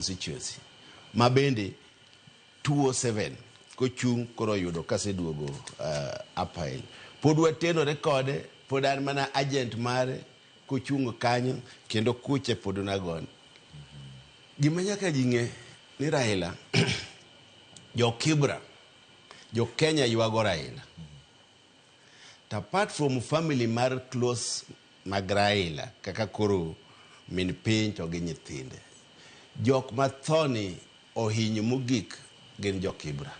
constituency ma bende 207 kochung' koro oyudo kaseduogo uh, apail pod watenore kode pod an mana agent mare kochung' kanyo kendo kuche pod nagon gima nyaka ji ng'e ni raila jo kibra jo kenya ywago raila To apart from family mar close mag Raila kaka koro min piny to gi nyithinde, jok mathoni ohinyo mogik gin jo Kibra.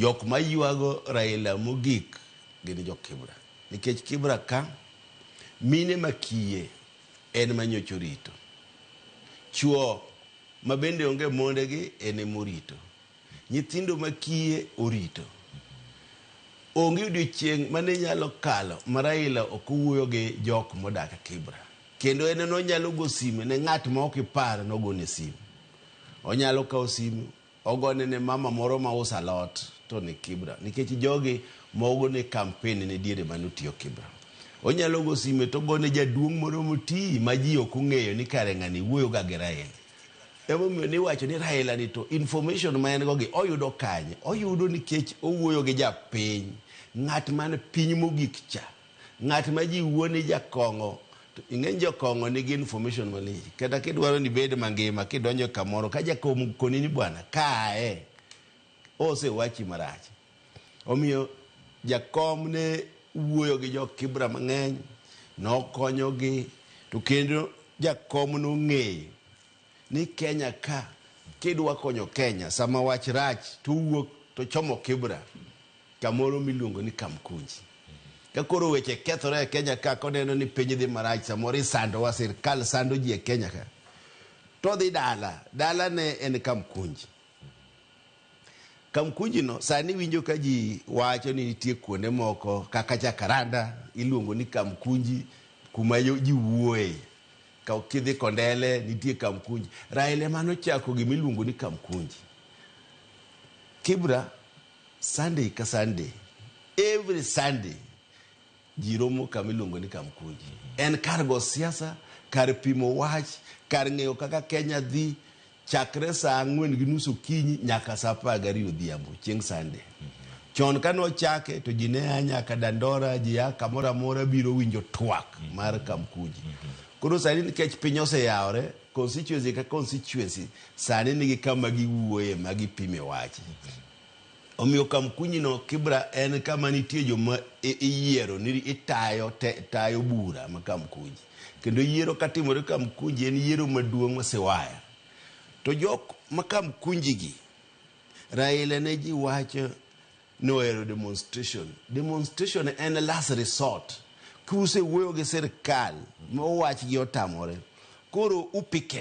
Jok maywago Raila mogik gin jo Kibra. Nikech Kibra ka mine makiye en manyocha orito. Chuo mabende onge mondegi en emorito. Nyithindo ma kiye orito. Onge odiochieng' mane nyalo kalo ma Raila ok owuoyo gi jok modak Kibra. Kendo en eno nyalo go sime ne ng'at ma ok ipar nogone simu. Onyalo kawo simu ogone ne mama moro ma usa lot to ni Kibra. Nikech jogi mogo ne kampen ne diere mane otiyo Kibra. Onyalo go sime togone jaduong' moro moti ma ji ok ong'eyo ni kare ng'ani wuoyo ga gi Raila. Emomiyo niwacho ni Raila ni to information ma en go gi oyudo kanye? Oyudo nikech owuoyo gi japiny. Ng'at man piny mogik cha. Ng'at ma ji wuo ni jakong'o. To ing'eny jokong'o nigi information malich. Kata kidwaro ni bed mangima kidonjo kamoro ka jakong'o koni ni bwana kae. Osewachi marach. Omiyo, jakom ne wuoyo gi Jo-Kibra mang'eny, nokonyogi, to kendo jakom nong'eyo ni Kenya ka, kidwa konyo Kenya sama wach rach to owuok to ochomo Kibra kamoro miluongo ni Kamkunji. Ka koro weche kethore e Kenya ka, koneno ni piny dhi marach, samoro isandowa, sirkal sando ji e Kenya ka, to odhi dala. Dalane en Kamkunji. Kamkujino sani winjo ka ji wacho ni nitie kuonde moko kaka Jacaranda iluongo ni Kamkunji kuma ji wuoye. Kidhi Kondele nitie Kamkunji. Raila ema nochako gima iluongo ni Kamkunji. Kibra, Sunday ka Sunday, every Sunday Ji romo kama iluongo ni Kamkunji. En kar go siasa, kar pimo wach, kar ng'eyo kaka Kenya dhi chakre saa ang'wen gi nus okinyi nyaka saa apar gariyo odhiambo chieng' Sande. Chon kane ochake to ji ne a nyaka Dandora, ji a kamoro amora biro winjo twak mar Kamkunji. Koro sani nikech piny oseyawore, constituency ka constituency sani nigi kama giwuoye ma gipime wach. Omiyo kamkunyino, Kibra, en kama nitie joma iyiero ni itayo te, tayo bura ma Kamkunji. Kendo yiero katimore Kamkunji en yiero maduong' ma Siwaya. To jok ma Kamkunji gi, Raila ne ji wacho ni ohero demonstration. Demonstration en last resort. Kuse wuoyo gi sirkal, mowach gi otamore, koro upicket.